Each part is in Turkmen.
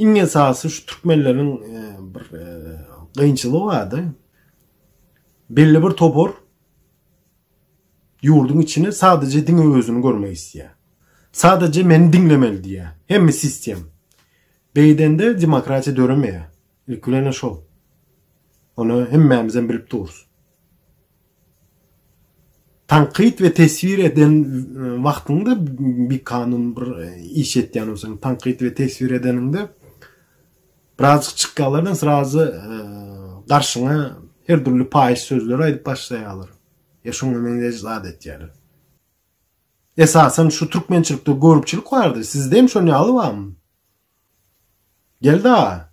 Iň esasy şu türkmenleriň bir gynçylygy bardy. Belli bir topar ýurduň içine sadece diňe özüni görmek istiyor. Sadece meni diňlemeli diýýär. Hemme sistem. Beýdende demokratiýa döremeýär. Ilkilene şol. Ony hemmämizem bilip durus. Tankyt we teswir eden wagtyňda bir kanun bir iş etýän bolsaň, tankyt we teswir edeniňde birazjyk çykýarlardan srazy garşyňa her dürli paýyş sözleri aýdyp başlaýarlar. Ya şoňa meňzeş zat etýärler. Esasan şu türkmençilikde görüpçilik bardy. Sizde hem şoň ýaly barmy? Geldi aga!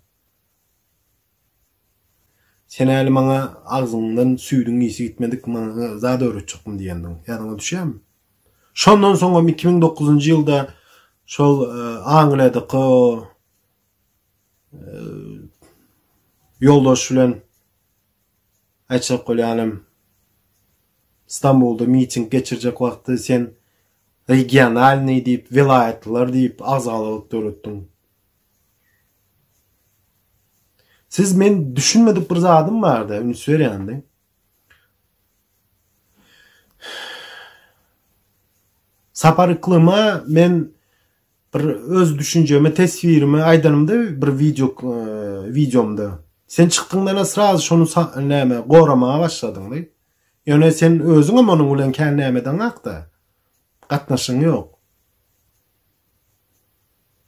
Senäli maňa agzyňdan süýdüň ysy gitmedik maňa zat öwretjekdim diýendiň. Ýadyňa düşýärmi? Şondan soňam iki müň dokuzynjy ýylda şol Angliýadaky o ýoldaş bilen aýtjak bolýanym Stambulda miting geçirjek wagty sen Regionalnyý diýip, welaýatlylar diýip agzalalyk döretdiň. Siz men düşünmedik bir zadym barda üns berýändi. Sapar Iklyma men bir öz düşünjemi, teswirimi aýdanymda bir wideo e, wideomda. Sen çykdyňdan sraz şonu näme goramaga başladyň diýip. Ýöne sen özüňem onuň bilen kän nämedeňakda. Gatnaşygyň ýok.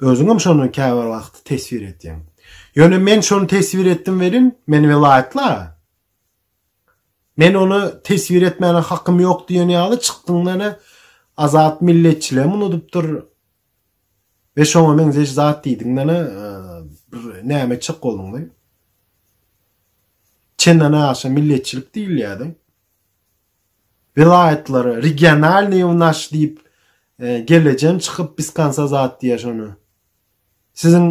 Özüňem şony käbir wagt teswir etýäň. Ýöne men şony teswir etdim welin, men welaýatly-a. Men ony teswir etmäne hakym ýok diýen ýaly çykdyň-da ene Azat milletçiligem unudypdyr, Be şoňa meňzeş zat diýdiň menä bir näme etjek bolduň be. Çenna naşa milletçilik diýilýärdi. Welaýatlara regionalny u naş diýip e, gelejen çykyp biz kansa zat diýär şony. Siziň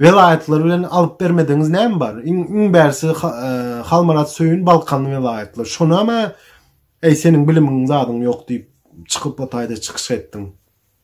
welaýatlar bilen alyp bermedigiňiz näme bar? Iň iň bärsi e, Halmarat Söýün Balkan welaýatlar. Şonama eý seniň bilimiň zadyň ýok diýip çykyp otaýda çykyş etdiň.